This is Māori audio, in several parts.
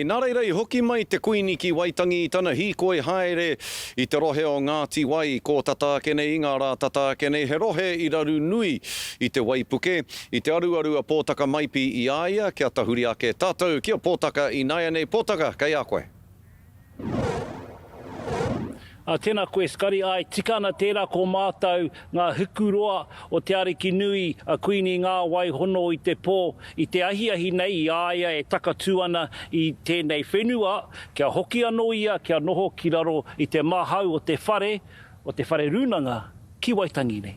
Nā reira i hoki mai te Kuini ki Waitangi i tana hīkoi haere i te rohe o Ngāti Wai, kō tata ake nei i ngā rā tata ake nei, he rohe i raru nui i te waipuke, i te aruaru a Pōtaka Maipi i a ia kia tahuri ake tātou ki a Pōtaka ināianei Pōtaka kei a koe. A tena koe Skari ae tika ana tera ko matou nga hiku roa o te ariki nui a Kuini Nga wai hono i te po i te ahiahi nei i a ia e takatu ana i tenei whenua kia hoki ano ia kia noho ki raro i te mahau o te whare o te whare runanga ki Waitangi nei.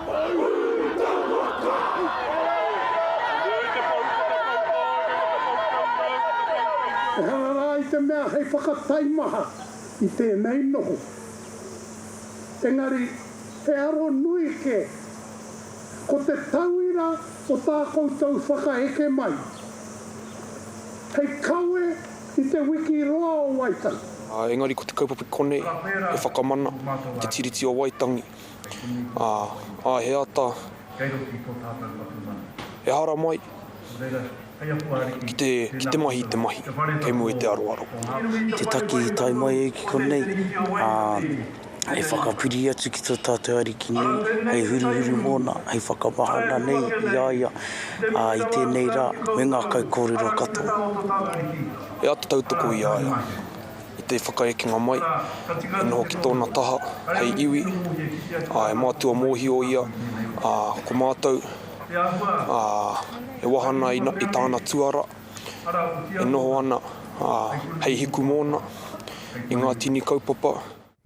Ehara rā i te mea hei whakataimaha i tēnei noho. Engari, he aro nui kē. Ko te tauira o tā koutou whakaeke mai, hei kawe i te wiki roa o Waitangi. Engari ko te kaupapa konei he whakamana i te Tiriti o Waitangi. ā, ā he ata, ehara mai, ki te, ki te mahi i te mahi, kei mua i te aroaro. Te taki i tae mai ai ki konei, ā, hei whakapiri atu ki tō tātou Ariki nei, hei huruhuru Mōna, hei whakamahana nei i a ia, ā, i tēnei rā, me ngā kaikōrero katoa. He ata tautoko i a ia. i te whakaekenga mai, e noho ki tōna taha hei iwi, ā, e mātua mōhio ia, ā, ko mātou, ā, e wāhana i, i tāna tuara, e noho ana, ā, hei hiku mōna, i ngā tini kaupapa.